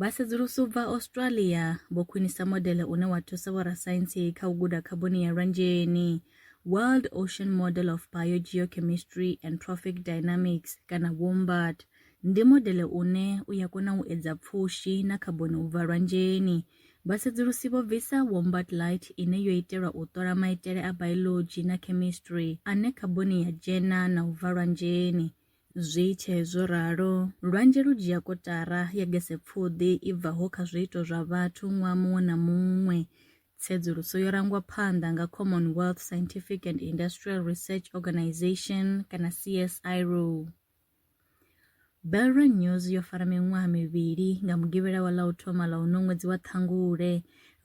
Vhasedzulusi u bva Australia vho khwinisa modele une wa thusa vhorasaintsi kha u guda khaboni ya lwanzheni, World Ocean Model of Biogeochemistry and Trophic Dynamics kana WOMBAT. Ndi modele une u ya kona u edza pfushi na khaboni u bva lwanzheni. Vhasedzulusi vho bvisa WOMBAT Lite ine yo itelwa u ṱola maitele a biology na chemistry ane khaboni ya dzhena na u bva lwanzheni. Zwi tshee zwo ralo, lwanzhe lu dzhia kotara ya gesepfuḓi i bvaho kha zwiito zwa vhathu ṅwaha muṅwe na muṅwe. Tsedzuluso yo rangwa phanḓa nga Commonwealth Scientific and Industrial Research Organisation kana CSIRO. Belron News yo fara miṅwaha mivhili nga Mugivhela wa ḽa u thoma ḽa uno ṅwedzi wa Ṱhangule,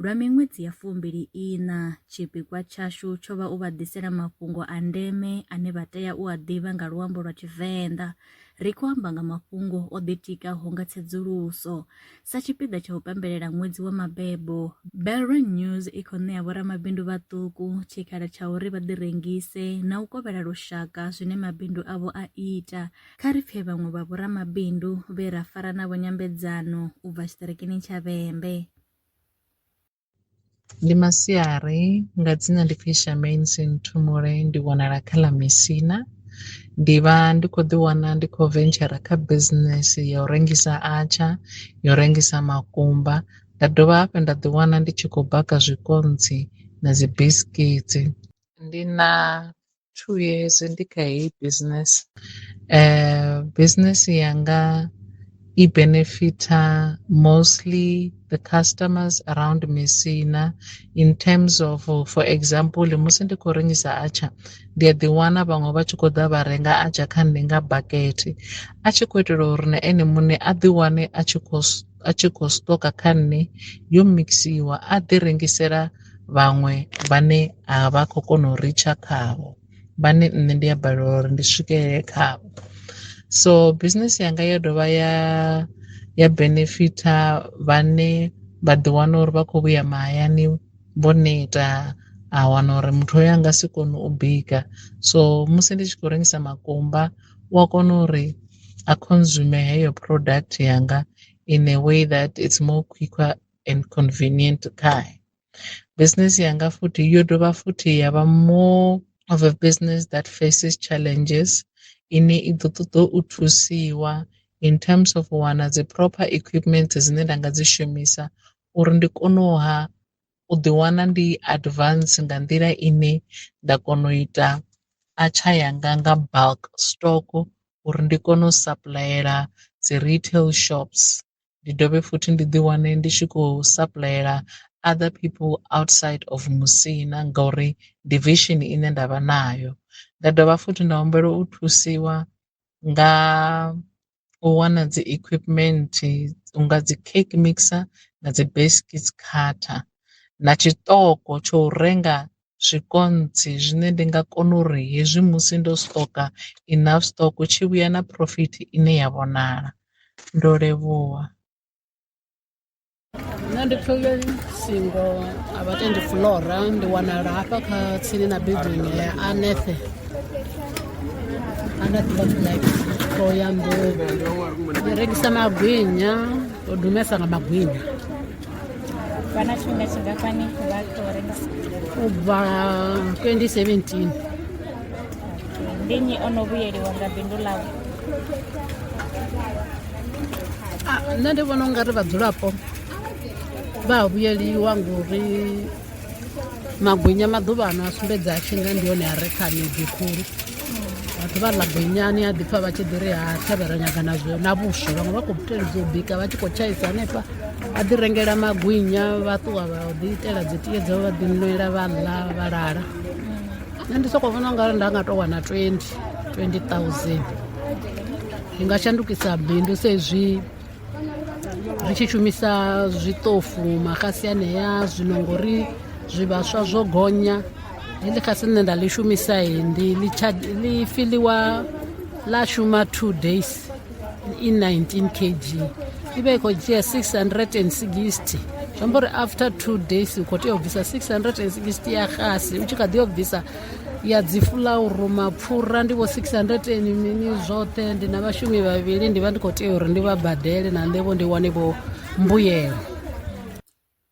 Lwa miṅwedzi ya fumbili-iṋa, tshipikwa tshashu tsho vha u vha ḓisela mafhungo a ndeme ane vha tea u a ḓivha nga luambo lwa Tshivenḓa, ri khou amba nga mafhungo o ḓitikaho nga tsedzuluso. Sa tshipiḓa tsha u pembelela ṅwedzi wa mabebo, Belron News i khou ṋea vhoramabindu vhaṱuku tshikhala tsha uri vha ḓirengise na u kovhela lushaka zwine mabindu avho a ita. Kha ri pfe vhaṅwe vha vhoramabindu vhe ra fara navho nyambedzano u bva tshiṱirikini tsha Vhembe. Ndi masiari nga dzina ndi pfi Charmaine Sinthumule ndi wanala kha ḽa Mesina ndi vha ndi kho ḓi wana ndi kho ventshara kha business ya u rengisa atsha yo rengisa makumba nda dovha hafhu nda ḓi wana ndi tshi khou baka zwikontsi na dzi biskitsi ndi na two years ndi kha heyi business uh, business yanga i benefita mostly the customers around misina in terms of for example musi ndi khou rengisa atsha ndi a ḓi wana vhaṅwe vha tshi khou ḓa vha renga atsha kha nṋe nga bakete a tshi khou itela uri na ene muṋe a ḓi wane a tshi khou a tshi khou stoka kha nṋe yo mikisiwa a ḓi rengisela vhaṅwe vhane a vha khou kona u ritsha khavho vhane nṋe ndi a balelwa uri ndi swikelele khavho so business yanga ya dovha ya ya benefitha vhane vha ḓi wana uri vha khou vhuya mahayani vho neta a wana uri muthu oyo a nga si kone u bika so musi ndi tshi khou rengisa makumba u a kona uri a consume heyo product yanga in a way that it's more quicker and convenient khae business yanga futhi yo dovha futhi ya vha more of a business that faces challenges ine i ḓo ṱoḓa u thusiwa in terms of u wana dzi proper equipment dzine nda nga dzi shumisa uri ndi kone u ha u ḓi wana ndi advance nga nḓila ine nda kona u ita atsha yanga nga bulk stock uri ndi kone u sapuḽayela dzi retail shops ndi dovhe futhi ndi ḓi wane ndi tshi khou sapuḽayela other people outside of musina ngauri ndi vision ine nda vha nayo. Nda dovha futhi nda humbela u thusiwa nga u wana dzi equipment unga dzi cake mixer na dzi biscuits cutter na tshiṱoko tsho u renga zwikontsi zwine ndi nga kona uri hezwi musi ndo stoka enough stock tshi vhuya na phurofiti ine ya vhonala ndo levhuwa. nṋe ndi pfele singo a vha tendi flora ndi wanala hafha kha tsini na building ya anethe anethe of life to ya nḓuvo ndi rengisa magwinya to dumesa nga magwinya vha na tshifhinga tshingafhani vha to rengisa u bva 2017 Ndi nnyi o no vhuyeliwa nga bindu ḽau? Ah, nṋe ndi vhona ungari vhadzulapo vha a vhuyeliwa ngori magwinya maḓuvha ano a sumbedza a tshinga ndi hone a re kha miḓi khulu vhathu vha ḽa gwinyani a ḓipfa vha tshi ḓi ri ha thavhela nyaga na zwo na vhuswa vhaṅwe vha khou teledza u bika vha tshi khou tshaisa hanefha vha ḓi rengela magwinya vha ṱuwa vha ḓi itela dzi tie dzavho vha ḓi nwela vha ḽa vha lala nṋe ndi soko vhona ungari nda nga to wana 20 20000 ndi nga shandukisa bindu saizwi ri tshi shumisa zwiṱofu maxasi anea zwino ngori zwivhaswa zwo gonya heḽi xasi nṋe nda ḽi shumisa ndi ḽi fiḽiwa ḽa shuma two days i19 kg ive ikho dzhia 660 zwi amba uri after two days u khou tea u bvisa 660 ya xasi u tshi kha ḓi yo bvisa ya dzi fulauru mapfura ndi vho 600 mini zwoṱhe ndi na vhashumi vhavhili ndi vha ndi khou tea uri ndi vha badele na nṋevho ndi wane vho mbuyelo